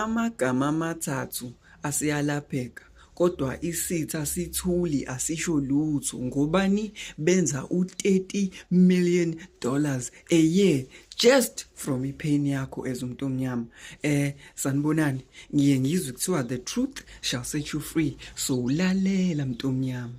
Amagama amathathu asiyalapheka kodwa isitha sithuli asisho lutho ngobani benza u-30 million dollars a year just from ipain yakho as umuntu omnyama eh sanibonani ngiye ngizwe kuthiwa the truth shall set you free so ulalela mntu omnyama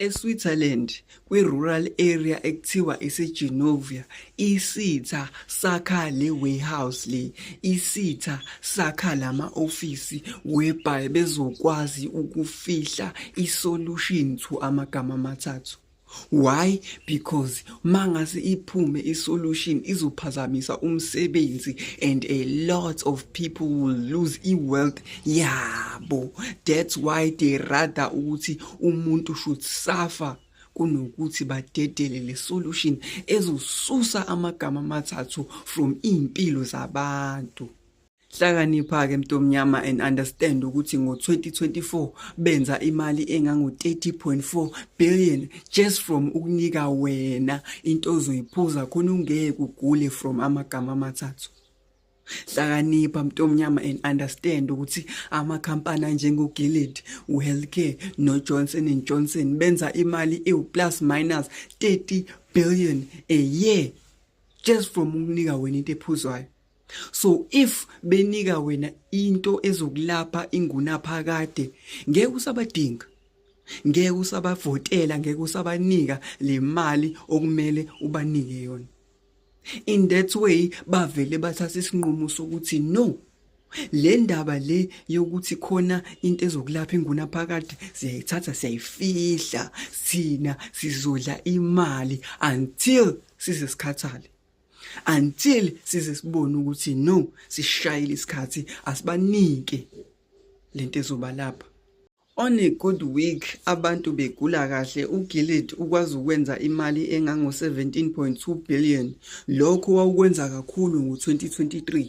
ESwitzerland, kwi-rural area ekuthiwa iseGenovia, isitha sakha le warehouse le, isitha sakha lama ofisi whereby bezokwazi ukufihla isolution to amagama amathathu. Why? Because mangase iphume isolution izophazamisa umsebenzi and a lot of people will lose iwealth yabo that's why they rather ukuthi umuntu should suffer kunokuthi badedele le solution ezosusa amagama amathathu from impilo zabantu Hlakanipha-ke mntomnyama and understand ukuthi ngo-2024 benza imali engango-30.4 billion just from ukunika wena into ozoyiphuza khona ungeke ugule from amagama amathathu hlakanipha mntomnyama and understand ukuthi amakhampani anjengoGilead uHealthcare noJohnson and Johnson benza imali ewu plus minus 30 billion a year just from ukunika wena into ephuzwayo so if benika wena into ezokulapha ingunaphakade ngeke usabadinga ngeke usabavotela ngeke usabanika le mali okumele ubanike yona in that way bavele bathatha isinqumo sokuthi no le ndaba le yokuthi khona into ezokulapha inguna phakade siyayithatha siyayifihla sina sizodla imali until size sikhathale until size sibone ukuthi no sishayile isikhathi asibanike lento ezoba lapha on a good week abantu begula kahle uGilead ukwazi ukwenza imali engango 17.2 billion lokho wawukwenza kakhulu ngo 2023